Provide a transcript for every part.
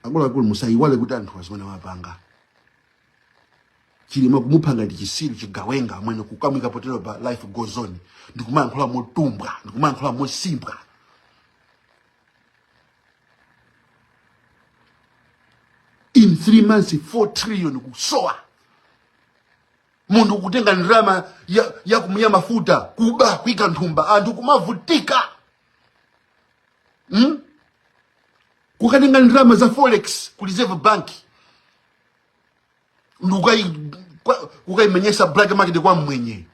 akuluakulu musayiwale kuti anthu azimwene wapanga chilima kumupanga ndi chisiru chigawenga amwene kukamwika potero pa life goes on ndikumayankhula motumbwa ndikumayankhula mosimbwa in three months 4 trillion kusowa munthu kutenga ndalama ya, ya kumenya mafuta kuba kuika nthumba anthu kumavutika hmm? kukatenga ndalama za forex ku reserve bank ndikukayimenyesa black market kwa mmwenye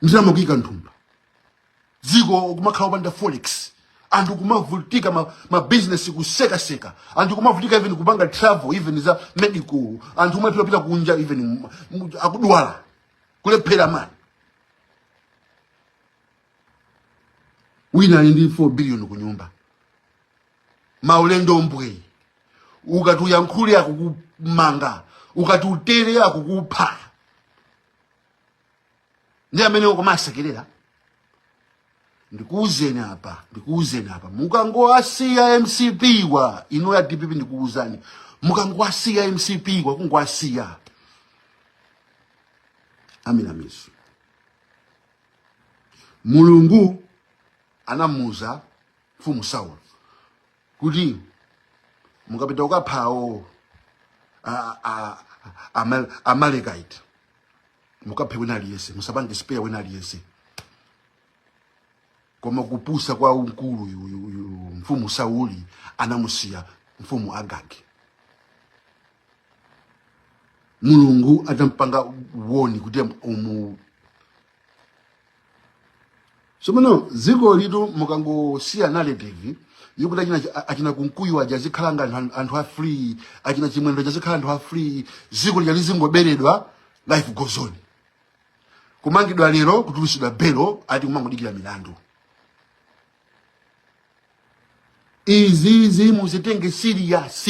ndalama kuyika nthumba dziko kumakhala opanda forex anthu kumavutika ma, ma business kusekaseka anthu kumavutika even kupanga travel even za medical anthu kumalephera kupita kunja even m- m- akudwala kulephera mani wina ali ndi 4 billion ku nyumba maulendo mbwe ukati uyankhule akukumanga ukati utere akukupha ndi amene ukumasekerera ndikuuzeni apa ndikuuzeni apa mukangoasiya mcp-wa inu a dpp ndikuuzani mukangoasiya mcp-wa kungoasiya aminamizo mulungu anamuuza mfumu saulo kuti mukapita kukapha awo a- a- ama- amalekite mukaphe wina aliyense musapange spare wina aliyense koma kupusa kwa mkulu uyu- uyu- uyu mfumu sauli anamusiya mfumu agagi mulungu atampanga warn kuti umu Somano ziko litu mukangosiya narrative yokuti achina achina kunkuyu aja zikhala ngati anthu anthu a free achina chimwendo aja zikhala anthu a free ziko lija lizingoberedwa life goes on kumangidwa lero kutulusidwa belo ati kumangodikira milandu izizi muzitenge serious